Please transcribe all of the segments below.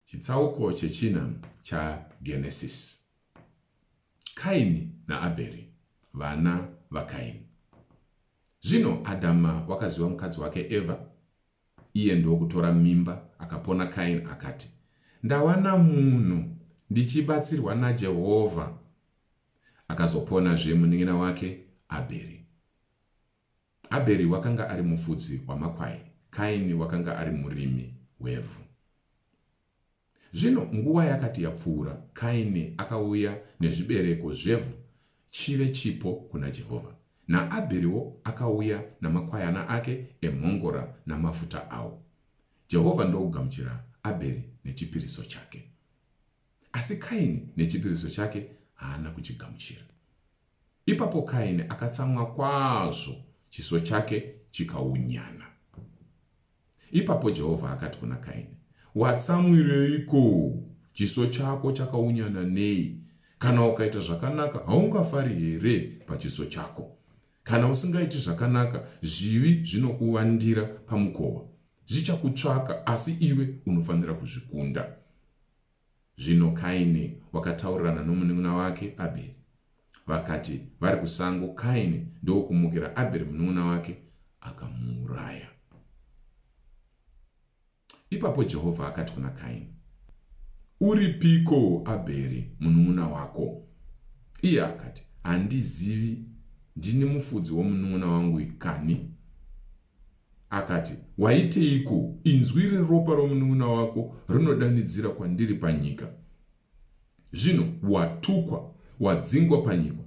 Chitsauko chechina chaGenesisi. Kaini naAbheri, vana vaKaini. Zvino Adhama wakaziva mukadzi wake Evha, iye ndokutora mimba, akapona Kaini akati, Ndawana munhu ndichibatsirwa naJehovha. Akazoponazve munin'ina wake Abheri. Abheri wakanga ari mufudzi wamakwai, Kaini wakanga ari murimi wevhu. Zvino nguva yakati yapfuura, Kaini akauya nezvibereko zvevhu chive chipo kuna Jehovha, naAbheriwo akauya namakwayana ake emhongora namafuta awo. Jehovha ndokugamuchira Abheri nechipiriso chake, asi Kaini nechipiriso chake haana kuchigamuchira. Ipapo Kaini akatsamwa kwazvo, chiso chake chikaunyana. Ipapo Jehovha akati kuna Kaini, Watsamwireiko? Chiso chako chakaunyana nei? Kana ukaita zvakanaka, haungafari here pachiso chako? Kana usingaiti zvakanaka, zvivi zvinokuvandira pamukova. Zvichakutsvaka, asi iwe unofanira kuzvikunda. Zvino Kaini wakataurirana nomunin'ina wake Abheri. Vakati vari kusango, Kaini ndokumukira Abheri munin'ina wake, akamuuraya. Ipapo Jehovha akati kuna Kaini, Uripiko Abheri munin'ina wako? Iye akati, Handizivi, ndini mufudzi womunin'ina wangu kani? Akati, Waiteiko? Inzwi reropa romunun'una wako rinodanidzira kwandiri panyika. Zvino watukwa, wadzingwa panyika.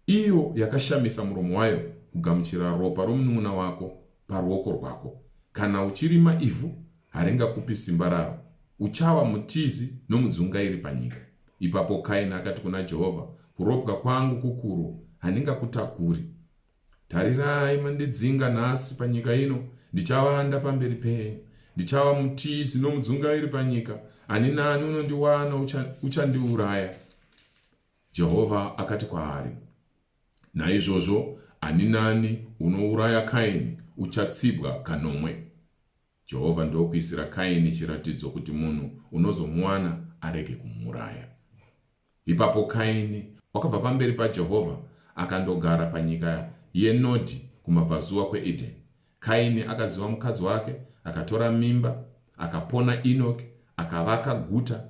Iyo yakashamisa muromo wayo kugamuchira ropa romunun'una wako paruoko rwako. Kana uchirima ivhu, haringakupi simba raro. Uchava mutizi nomudzungairi panyika. Ipapo Kaini akati kuna Jehovha, Kuropwa kwangu kukuru, handingakutakuri. Tarirai, mandidzinga nhasi panyika ino, ndichavanda pamberi penyu. Ndichava mutizi nomudzungairi panyika, ani nani unondiwana uchandiuraya. Ucha Jehovha akati kwaari, Naizvozvo ani nani unouraya Kaini uchatsibwa kanomwe. Jehovha ndokuisira Kaini chiratidzo kuti munhu unozomuwana arege kumuuraya. Ipapo Kaini wakabva pamberi paJehovha akandogara panyika yeNodhi kumabvazuva kweEdheni. Kaini akaziva mukadzi wake, akatora mimba, akapona Inoki, akavaka guta,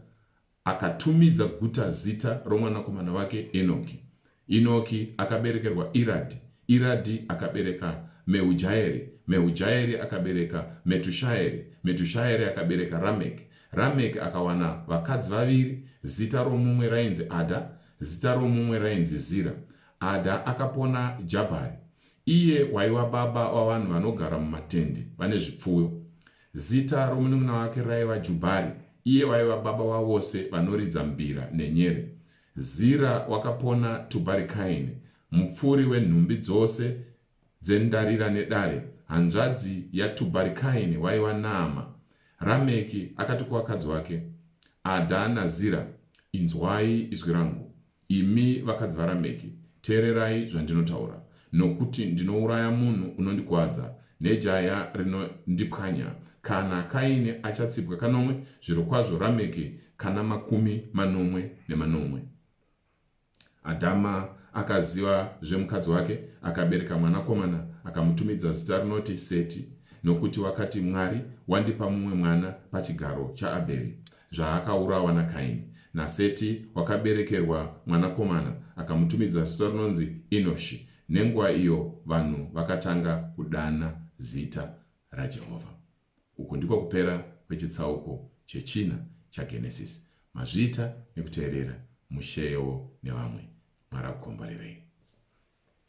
akatumidza guta zita romwanakomana wake Enoki. Inoki akaberekerwa Iradhi, Iradhi akabereka Mehujhaeri, Mehujhaeri akabereka Metushaeri, Metushaeri akabereka Rameki. Rameki akawana vakadzi vaviri, zita romumwe rainzi Adha, zita romumwe rainzi Zira. Adha akapona Jabhari, iye waiva baba wavanhu vanogara mumatende vane zvipfuyo. Zita romunun'una wake raiva Jubhari, iye waiva baba wavose vanoridza mbira nenyere. Zira wakapona Tubarikaini, mupfuri wenhumbi dzose dzendarira nedare, hanzvadzi yaTubarikaini waiva Naama. Rameki akati kuvakadzi wake, Adha naZira, Inzwai izwi rangu, imi vakadzi vaRameki, teererai zvandinotaura. Nokuti ndinouraya munhu unondikwadza, nejaya rinondipwanya, kana Kaini achatsipwa kanomwe, zvirokwazvo Rameki kana makumi manomwe nemanomwe. Adhama akaziva zvemukadzi wake, akabereka mwanakomana, akamutumidza zita rinoti Seti, nokuti wakati, Mwari wandipa mumwe mwana pachigaro chaAbheri. zvaakaurawa naKaini. NaSeti wakaberekerwa mwanakomana, akamutumidza zita rinonzi Inoshi. Nenguva iyo vanhu vakatanga kudana zita raJehovha. Uku ndiko kupera kwechitsauko chechina chaGenesisi. Mazviita nekuteerera Mushe Yeo nevamwe. Mwari akukomborerei.